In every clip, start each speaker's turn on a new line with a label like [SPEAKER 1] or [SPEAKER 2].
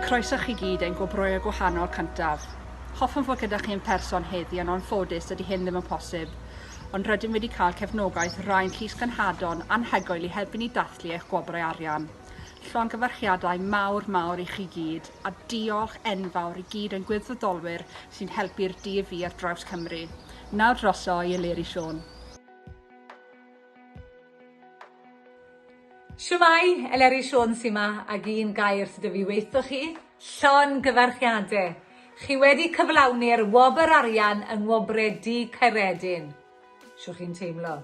[SPEAKER 1] Croeso chi gyd ein gwobroio gwahanol cyntaf. Hoffwn fod gyda chi yn person heddi yn onffodus ydy hyn ddim yn posib, ond rydym wedi cael cefnogaeth rhain llys gynhadon anhygoel i helpu ni dathlu eich gwobrau arian. Llon gyfarchiadau mawr mawr i chi gyd a diolch enfawr i gyd ein gwirfoddolwyr sy'n helpu'r DV ar draws Cymru. Nawr droso i Eleri Siôn.
[SPEAKER 2] Shwmae, Eleri Siôn sy 'ma ag un gair sy 'da fi weitho chi, llongyfarchiade! Chi wedi cyflawni'r wobr arian yng Ngwobre Du Caeredin. Shw chi'n teimlo?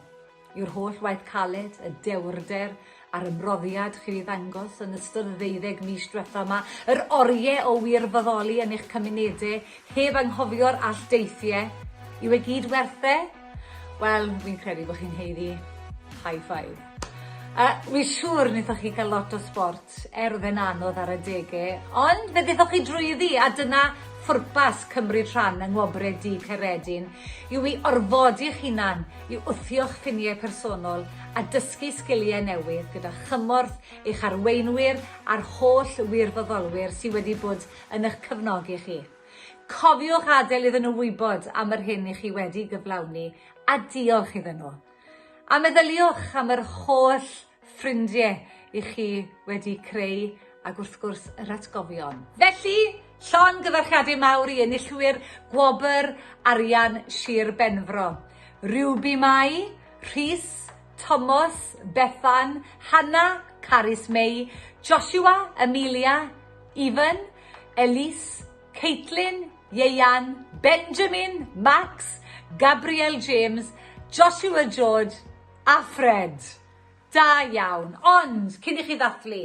[SPEAKER 2] yw'r holl waith caled, y dewrder a'r ymroddiad chi wedi ddangos yn ystod y ddeuddeg mis diwetha' 'ma, yr orie o wirfoddoli yn eich cymunede heb anghofio'r alldeithie, yw e gyd werth e? Wel, fi'n credu bod chi'n haeddu high five. Yy, wi'n siŵr wnaethoch chi gael lot o sbort er oedd e'n anodd ar adege, ond fe ddethoch chi drwyddi a dyna phwrpas cymryd rhan yng Ngwobrau Du Caeredin yw i orfodi'ch hunan i wthio'ch ffiniau personol a dysgu sgiliau newydd gyda chymorth eich arweinwyr a'r holl wirfoddolwyr sydd wedi bod yn eich cefnogi chi. Cofiwch adael iddyn nhw wybod am yr hyn i chi wedi gyflawni a diolch iddyn nhw. A meddyliwch am yr holl ffrindie i chi wedi creu ag wrth gwrs yr atgofion. Felly, llongyfarchiadau mawr i enillwyr Gwobr Arian Sir Benfro, Ruby Mai, Rhys, Tomos, Bethan, Hanna, Carys Mei, Joshua, Amelia, Ifan, Elise, Caitlin, Ieuan, Benjamin, Max, Gabriel James, Joshua George, Alfred! Da iawn! Ond, cyn i chi ddathlu,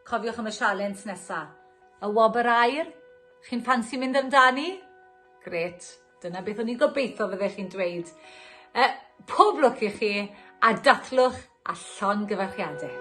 [SPEAKER 2] cofiwch am y sialens nesa. Y wobr aur? Chi'n ffansi mynd amdani? Grêt, dyna beth o'n i'n gobeithio fyddech chi'n dweud. Yy, pob lwc i chi, a dathlwch a llongyfarchiade.